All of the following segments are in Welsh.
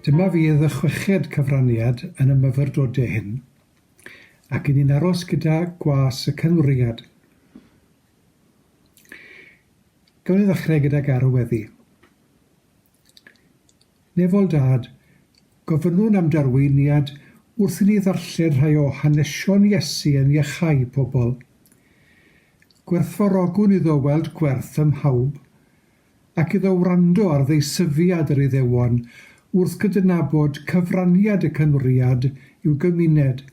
Dyma fydd y chweched cyfraniad yn y myfyrdodau hyn, ac i ni'n aros gyda gwas y cynwriad. Gawn ni ddechrau gydag arweddi. Nefol Dad, gofynnwn am darweiniad wrth i ni ddarllen rhai o hanesion Iesu yn iachau pobl. Gwerthfawrogwn iddo weld gwerth ym mhawb, ac iddo wrando ar ddeisyfiad yr Iddewon wrth gydnabod cyfraniad y Cynwriad i'w gymuned,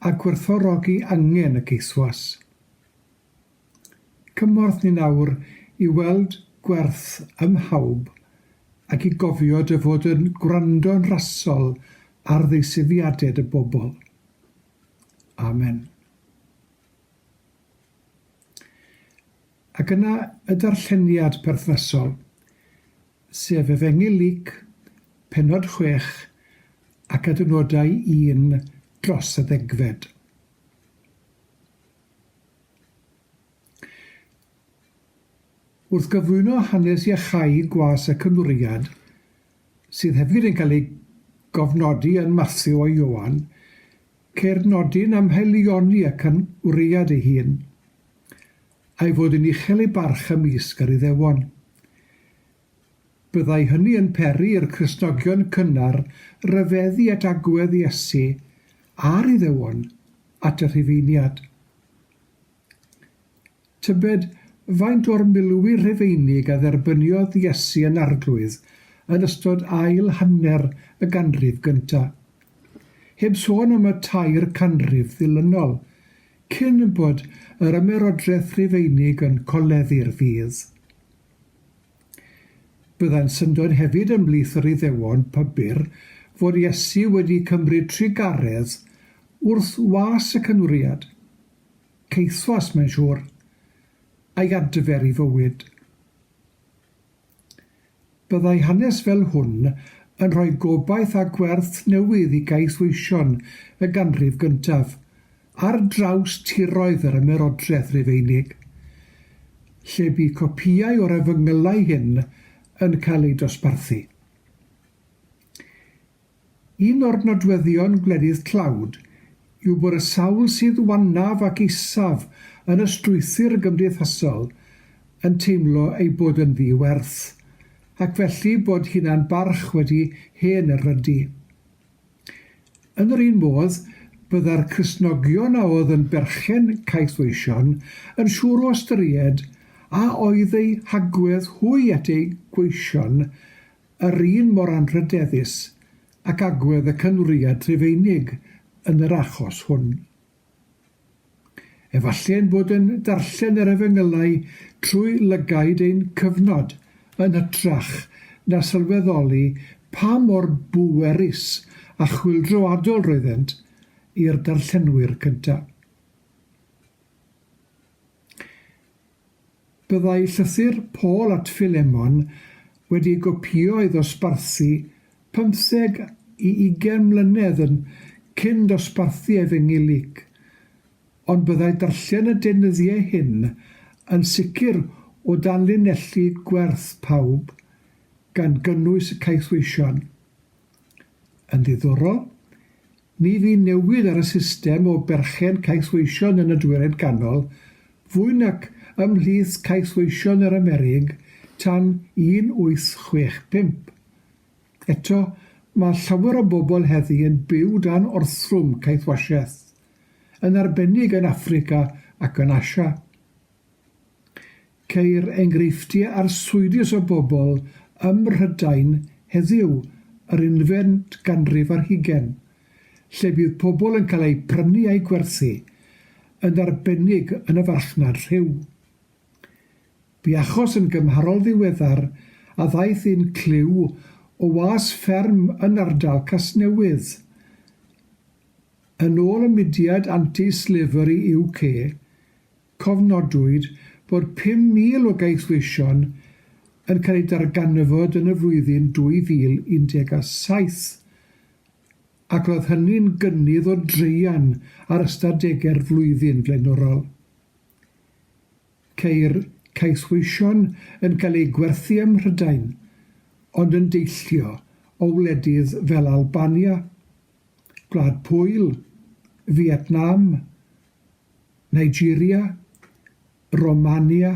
a gwerthfawrogi angen y geithwas. Cymorth ni nawr i weld gwerth ym mhawb ac i gofio dy fod yn gwrando'n rasol ar ddeisyfiaded y bobl. Amen. Ac yna y darlleniad perthnasol, sef Efengyl Luc, penod chwech, ac adnodau un dros y ddegfed. Wrth gyflwyno hanes iachau gwas y Cymwriad, sydd hefyd yn cael ei gofnodi yn Mathew a Ioan, ceir nodyn am haelioni y Cymwriad ei hun, a'i fod yn uchel ei barch ymysg yr Iddewon. Byddai hynny yn peri i'r Cristnogion cynnar ryfeddu at agwedd Iesu a'r Iddewon at y Rhufeiniad. Tybed faint o'r milwyr Rhufeinig a dderbyniodd Iesu yn Arglwydd yn ystod ail hanner y ganrif gyntaf? Heb sôn am y tair canrif ddilynol, cyn bod yr Ymerodraeth Rhufeinig yn coleddu'r ffydd. Byddai'n syndod hefyd ymhlith yr Iddewon pybyr fod Iesu wedi cymryd trugaredd wrth was y cynwriad, caethwas mae'n siŵr, a'i adfer i fywyd. Byddai hanes fel hwn yn rhoi gobaith a gwerth newydd i gaethweision y ganrif gyntaf, Ar draws tiroedd yr Ymerodraeth Rufeinig, lle bu copïau o'r efengylau hyn yn cael eu dosbarthu. Un o'r nodweddion gwledydd tlawd yw bod y sawl sydd wannaf ac isaf yn y strwythur gymdeithasol yn teimlo eu bod yn ddi-werth, ac felly bod hunan-barch wedi hen erydu. Yn yr un modd, bydda'r Cristnogion a oedd yn berchen caethweision yn siŵr o ystyried a oedd eu hagwedd hwy at eu gweision yr un mor anrhydeddus ac agwedd y Cynwriad Rhufeinig yn yr achos hwn. Efallai ein bod yn darllen yr Efengylau trwy lygaid ein cyfnod yn hytrach na sylweddoli pa mor bwerus a chwyldroadol roeddent i'r darllenwyr cyntaf. Byddai llythyr Paul at Philemon wedi gopïo ei ddosbarthu pymtheg i ugain mlynedd yn cyn dosbarthu Efengyl Luc, ond byddai darllen y deunyddiau hyn yn sicr o danlinellu gwerth pawb, gan gynnwys y caethweision. Yn ddiddorol, ni fu newid ar y system o berchen Cais Weision yn y Dwyrain Ganol fwy nac ymhlith Cais Weision yr Amerig tan 1865. Eto, mae llawer o bobl heddi yn byw dan orthrwm caethwasiaeth, yn arbennig yn Affrica ac yn Asia. Ceir enghreifftiau arswydus o bobl ym Mhrydain heddiw yr unfed ganrif ar hugain, lle bydd pobl yn cael eu prynu a'u gwerthu, yn arbennig yn y farchnad rhyw. Bu achos yn gymharol ddiweddar a ddaeth un clyw o was fferm yn ardal Casnewydd. Yn ôl y mudiad Anti-Slavery UK, Cofnodwyd bod 5,000 o gaethweision yn cael eu darganfod yn y flwyddyn 2017, ac roedd hynny'n gynnydd o draean ar ystadegau'r flwyddyn flaenorol. Ceir caethweision yn cael eu gwerthu ym Mhrydain, ond yn deillio o wledydd fel Albania, Gwlad Pwyl, Fietnam, Nigeria, Romania,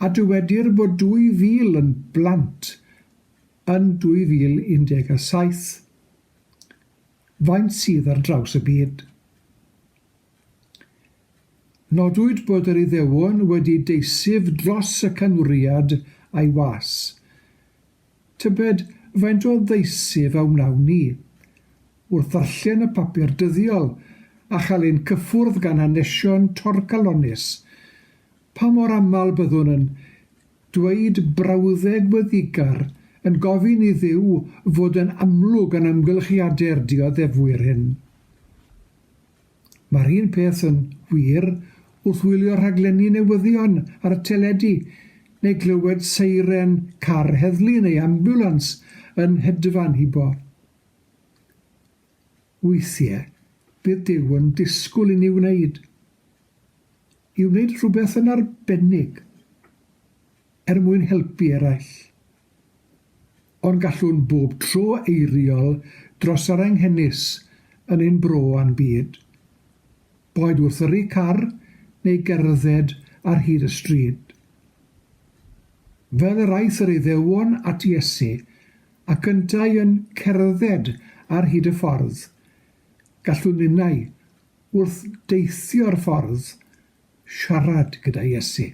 a dywedir bod 2,000 yn blant yn 2017. Faint sydd ar draws y byd? Nodwyd bod yr Iddewon wedi deisyf dros y canwriad a'i was. Tybed faint o ddeisyf a wnawn ni, wrth ddarllen y papur dyddiol a chael ein cyffwrdd gan hanesion torcalonnus, pa mor aml byddwn yn dweud brawddeg wyddigar yn gofyn i Dduw fod yn amlwg yn amgylchiade'r dioddefwyr hyn. Mae'r un peth yn wir wrth wylio rhaglenni newyddion ar y teledu neu glywed seiren car heddlu neu ambiwlans yn hedfan hibo. Weithiau, bydd Duw yn disgwyl i ni wneud, i wneud rhywbeth yn arbennig er mwyn helpu eraill. Ond gallwn bob tro eiriol dros yr anghenus yn ein bro a'n byd. Boed wrth yrru car neu gerdded ar hyd y stryd. Fel yr aeth yr Iddewon at Iesu ac yntau yn cerdded ar hyd y ffordd, gallwn ninnau, wrth deithio'r ffordd, siarad gyda Iesu.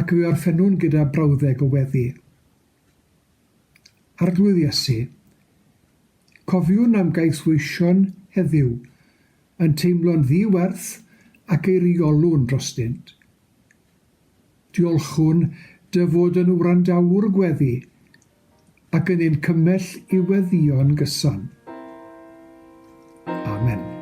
Ac fe orffennwn gyda brawddeg o weddi. Arglwydd Iesu, cofiwn am gais weision heddiw yn teimlo'n ddi-werth ac eiriolwn drostynt. Diolchwn Dy fod yn wrandawwr gweddi ac yn ein cymell i weddïo'n gyson. Amen.